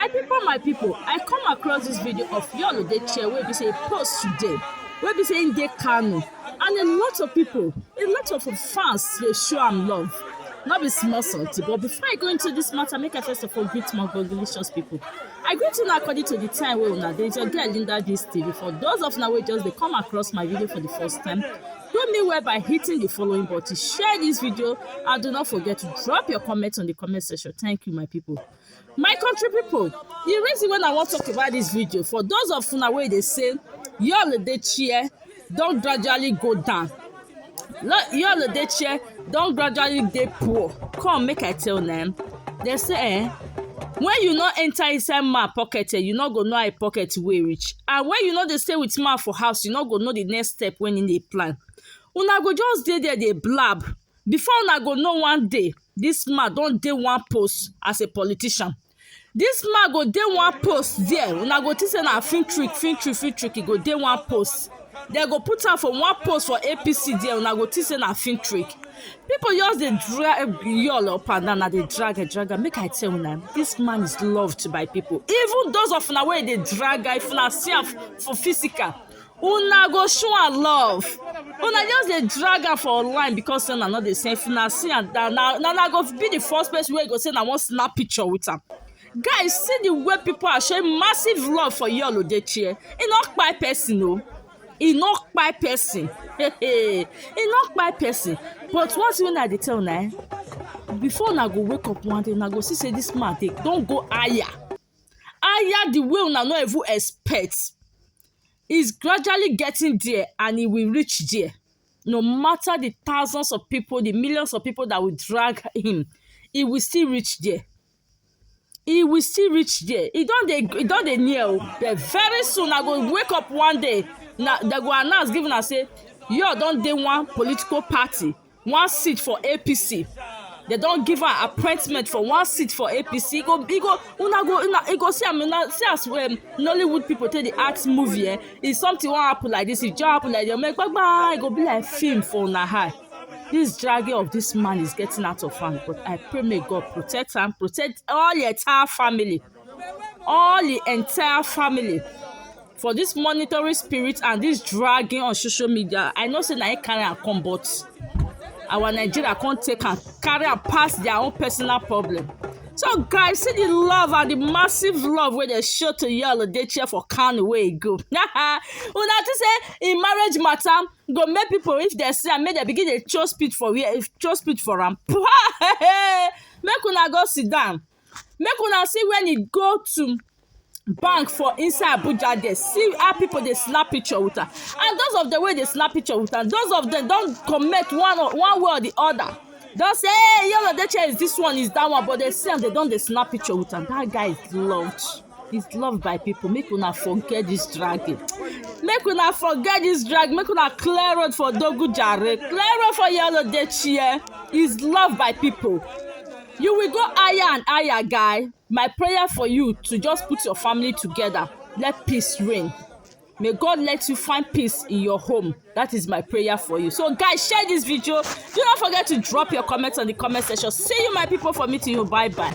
My people, my people, I come across this video of Yolo the chair where we say post today, where we say in the Kano, and a lot of people, a lot of fans, they show am love. Not be small salty, but before I go into this matter, make I first of all greet my congratulations people. I greet una according to the time wey una dey your girl Linda Gist TV. For those of una wey just dey come across my video for the first time, do me well by hitting the following button, share this video, and do not forget to drop your comments on the comment section. Thank you, my people. My country people, the reason why I wan talk about this video for those of una wey dey say your dey chair don gradually go down. Your dey chair don gradually dey poor. Come make I tell una um dem say eh when you no enter inside man pocket um you no go know how e pocket weigh reach and when you no dey stay with man for house you no go know the next step wey him dey plan. Una go just dey there dey blab Before una go know one day, dis man don dey one post as a politician. Dis man go dey one post there, una go think say na film trick, film trick, film trick, e go dey one post. Dem go put am for one post for APC there, una go think say na film trick. People just dey drag Yul up and down, na dey drag am, drag am. Make I tell una, dis man is loved by people. Even those of una wey dey drag am, if una see am for physical, una go show am love una just dey drag am for online because say una no dey see if una see am na na na una go be the first person wey go say na wan snap picture with am guys see the way people are showing massive love for yul odechie e no kpai person o e no kpai person e no kpai person but one thing wey i dey tell una eh before una go wake up one day una go see say this man dey don go higher higher the way una no even expect is gradually getting there and e will reach there no matter the thousands of people the millions of people that will drag him he will still reach there he will still reach there he don dey he don dey near o oh. but very soon i go wake up one day na they go announce give una say your don dey one political party one seat for apc dem don give am appointment for one seat for apc e go e go una go una e go see am una see as um, nollywood people take dey act movie eh if something wan happen like this e just happen like this make gbagba e go be like film for una eye this dragging of this man is getting out of hand but i pray may god protect am protect all the entire family all the entire family for this monitoring spirit and this dragging on social media i know say na him carry am come but our nigeria come take am carry am pass their own personal problem so guys see the love and the massive love wey dey show to yall dey cheer for kanu wey e go una think say im marriage matter go make people if dem see am make dem begin dey show speed for where show speed for am make una go sit down make una see when he go to bank for inside abuja there see how people dey slap picture with am and those of them wey dey slap picture with am those of them don comment one or one way or the other don say hey yul edochie is this one is that one but they see am they don dey snap picture with am that guy is loud. is loved by people make una forget this dragging make una forget this drag make una clear road for dogu jare clear road for yellow dey chair is loved by people you will go higher and higher guy my prayer for you to just put your family together let peace reign may god let you find peace in your home that is my prayer for you so guys share this video do not forget to drop your comments on the comment section see you my people for meeting you bye bye